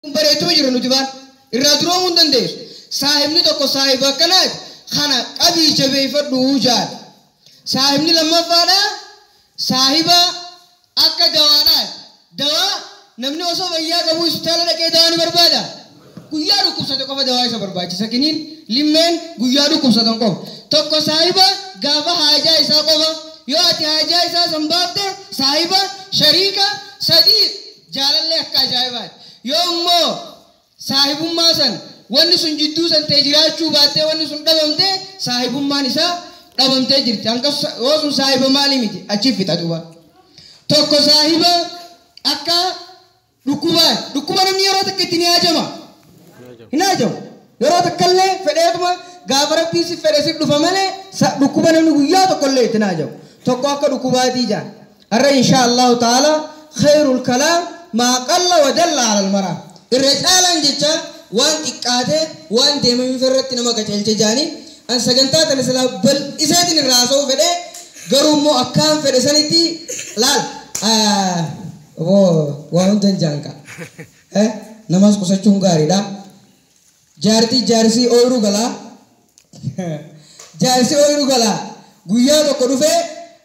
bareechuma jira nuti maal irraa duroomuu hin dandeessu saahibni tokko saahiba akkanaati kana qabii jabeeffadhu jaal saahibni lammaffaadha saahiba akka dawaadhaati dawaa namni osoo fayyaa qabuu hospitaala dhaqee dawaa ni barbaada guyyaa dhukkubsate qofa dawaa isa barbaachisa kiniin limmeen guyyaa dhukkubsatan qofa tokko saahiba gaafa haajaa isaa qofa yoo ati haajaa isaa san baafte saahiba shariika sadii Jaalalli akka ajaa'ibaati. Yoo immoo saahibummaa san wanni sun jidduu san ta'e jiraachuu baattee wanni sun dhabamte saahibummaan isaa dhabamtee jirti. Hanqas yoo sun saahiba maalii miti achi fixa duuba. Tokko saahiba akka dhukkubaati. Dhukkuba namni yeroo takka itti ni haajama. Hin haajamu. Yeroo takkallee fedheetuma gaafa rabbiin si fedhe si dhufa malee dhukkuba namni guyyaa tokkollee itti hin haajamu. Tokko akka dhukkubaatii jaan. Arra inshaa Allaahu ta'aalaa kheeyrul kalaam maa qalla wa dalla alal maraam. Irra caalaan jechaa waan xiqqaatee waan deemameef irratti nama qaceelcha ja'anii, an sagantaa tana silaa bal'iseetin irraa haasawuu fedhee garuu immoo akkaan fedhe sanitti laal aboo waa hundan ja'an kaa namas qusachuun gaariidha. Jaartii jaarsii ooyruu galaa Jaarsi ooyruu galaa Guyyaa tokko dhufee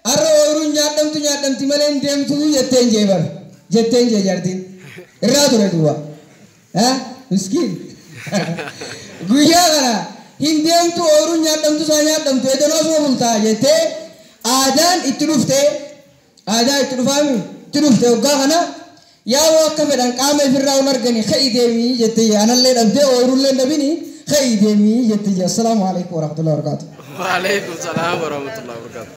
Arra ooyruun nyaadhamtu nyaadhamti malee hin deemtu jetteen jee bar jetteen jee jaartiin Irraa ture duwwa ha miskiin Guyyaa kana hin deemtu ooyruun nyaadhamtu saa nyaadhamtu edanoo suma bultaa jettee Aadaan itti dhuftee Aadaa itti dhufaa mii? Itti dhufte hoggaa kana yaawoo akka fedhan qaama ifirraa wal arganii ka'ii deemi jettiyya anallee dhabdee ooyrullee hin dhabini ka'ii deemi jettiyya. Assalaamu Aleeykum Warahmatullahi Wabarakaatuh. Waaleykum salaam warahmatullahi wabarakatuh.